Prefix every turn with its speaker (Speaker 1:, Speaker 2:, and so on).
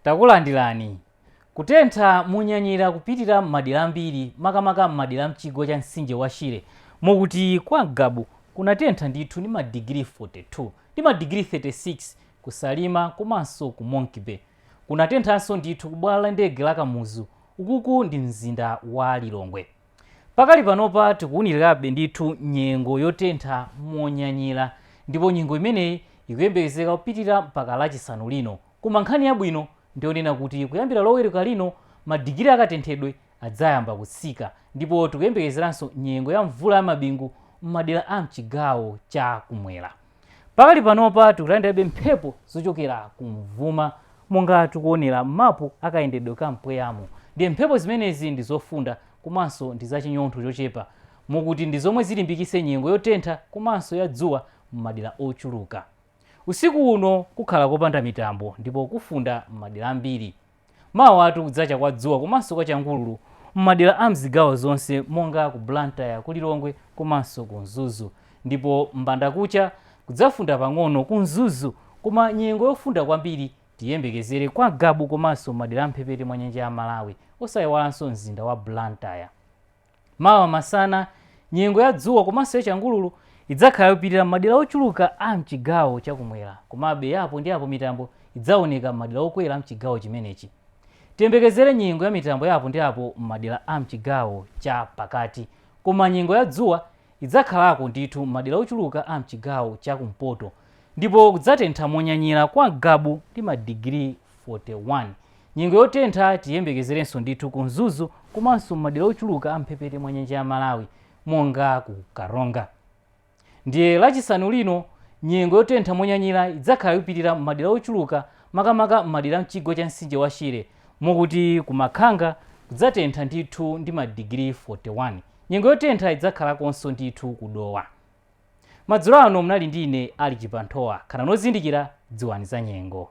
Speaker 1: takulandirani kutentha monyanyira kupitira m'madera ambiri makamaka m'madera a mchigwa cha mtsinje wa shire mokuti kwa ngabu kunatentha ndithu ndi madigiri 42 ndi madigiri 36 ku salima komanso ku monkey bay kunatenthanso ndithu ku bwalo la ndege la kamuzu ukuku ndi mzinda wa lilongwe Pakali panopa tikuwunilirabe ndithu nyengo yotentha monyanyira ndipo nyengo imeneyi ikuyembekezeka kupitira mpaka lachisanu lino koma nkhani yabwino ndiyonena kuti kuyambira loweruka lino madigiri akatenthedwe adzayamba kutsika ndipo tikuyembekezeranso nyengo ya mvula ya mabingu m'madera a mchigawo cha kumwera Pakali panopa tikulandirabe mphepo zochokera kumvuma monga tikuonera m'mapu a kayendedwe ka mpweyamu ndiye mphepo zimenezi ndi zofunda komanso ndi za chinyontho chochepa mokuti ndi zomwe zilimbikitse nyengo yotentha komanso ya dzuwa m'madera ochuluka. Usiku uno kukhala kopanda mitambo ndipo kufunda m'madera ambiri. Mawatu kudzacha kwa dzuwa komanso kwa changululu m'madera a m'zigawo zonse monga ku Blantyre, ku Lilongwe komanso ku Mzuzu. Ndipo m'mbandakucha kudzafunda pang'ono ku Mzuzu koma nyengo yofunda kwambiri tiyiyembekezere kwa Ngabu komanso m'madera a m'mphepete mwa nyanja ya Malawi osaiwalanso mzinda wa Blantyre. Mawa masana, nyengo ya dzuwa komanso ya changululu idzakhala yopitira m'madera ochuluka a m'chigawo cha kumwera, komabe ya apo ndi apo mitambo idzaoneka m'madera okwera a m'chigawo chimenechi. Tiyembekezere nyengo ya mitambo ya apo ndi apo m'madera a m'chigawo cha pakati, koma nyengo ya dzuwa idzakhalako ndithu m'madera ochuluka a m'chigawo cha kumpoto, ndipo kudzatentha monyanyira kwa Ngabu ndi madigiri 41. Nyengo yotentha tiyembekezerenso ndithu ku Mzuzu komanso m'madera ochuluka a mphepete mwa nyanja ya Malawi monga ku Karonga. Ndiye Lachisanu lino nyengo yotentha monyanyira idzakhala ikupitira m'madera ochuluka makamaka m'madera a mchigwa cha mtsinje wa Shire mokuti ku Makhanga kudzatentha ndithu ndi madigiri 41. Nyengo yotentha idzakhalakonso ndithu ku Dowa. Madzulo ano munali ndi ine Alick Chibanthowa. Khalani ozindikira, dziwani za nyengo.